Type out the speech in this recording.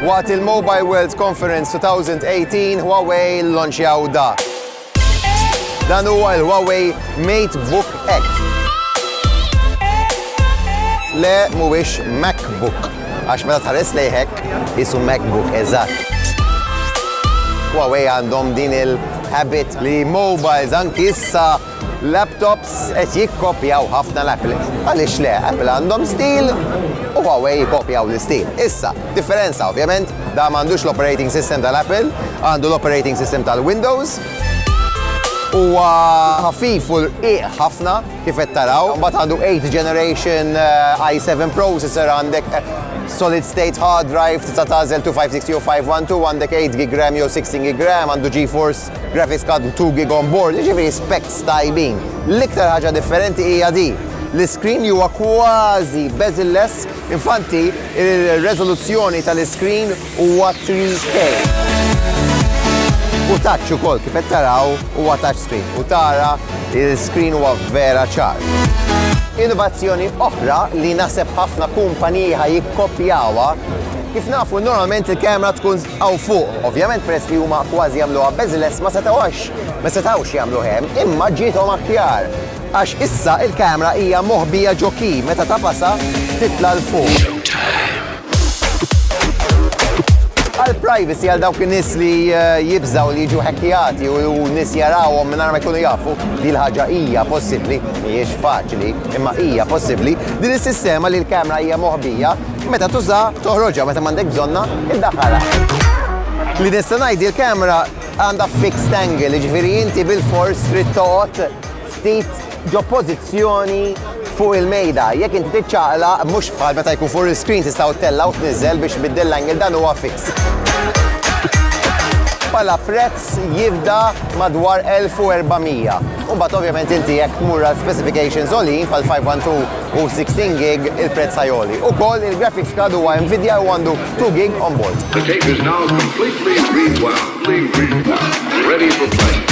Waqt il-Mobile World Conference 2018, Huawei lonċjaw da. Dan huwa l-Huawei MateBook X. Le mhuwiex MacBook, għax meta tħares lejhek jisu MacBook eżatt. Huawei għandhom din il-habit li mobiles anki issa Laptops qed jikkopjaw ħafna l-Apple. Għaliex le, Apple għandhom stil u Huawei jikkopjaw l-istil. Issa, differenza ovvjament, da m'għandux l-operating system tal-Apple, għandu l-operating system tal-Windows. Huwa ħafif u rqiq ħafna kif qed taraw. Mbagħad għandu 8 generation eh, i7 processor għandek eh, solid state hard drive tista' tagħżel 256 u 512 għandek 8 gig RAM jew 16 gig RAM għandu GeForce Graphics card 2 gig on board, jiġifieri specs tajbin. L-iktar ħaġa differenti hija di, l-iskrin li huwa kważi bezel-less, infanti r-reżoluzzjoni tal-iskrin huwa 3K. Hu touch ukoll, kif qed taraw huwa touch screen u tara l-iskrin huwa vera ċar. Innovazzjoni oħra li naħseb ħafna kumpaniji ħa jikkopjawha, kif nafu normalment il-kamera tkun Hawn fuq, ovvjament peress li huma kważi jagħmluha bezel-less ma setgħux ma setgħux jagħmluh hemm, imma ġiethom aħjar għax issa il-camera hija moħbija ġo key meta tagħfasha titla' 'l fuq. Għal privacy għal dawk in-nies li jibżgħu li jiġu hackjati u nies jarawhom mingħajr ma jkunu jafu, din il-ħaġa hija possibbli, mhijiex faċli, imma hija possibbli, din is-sistema li l-camera hija moħbija, Meta tuża, toħroġha, meta m'għandek bżonna, iddaħħalha. Li nista' ngħid li l-kamera għandha fixed angle, jiġifieri inti bil-fors trid toqgħod ftit ġo pożizzjoni fuq il-mejda. Jekk inti tiċċaqla, mhux bħal meta jkun fuq il-screen tista' tella u tniżel biex biddel l-angle dan huwa fix. Pala prezz Prezz jibda madwar 1,400. U mbagħad ovvjament inti jekk tmur għal specifications għoljin bħal 512 u 16 gig il-prezz ħa jgħoli. Ukoll il-graphics card huwa Nvidia u għandu 2 gig onboard. The tape is now completely rewound. Ready for play.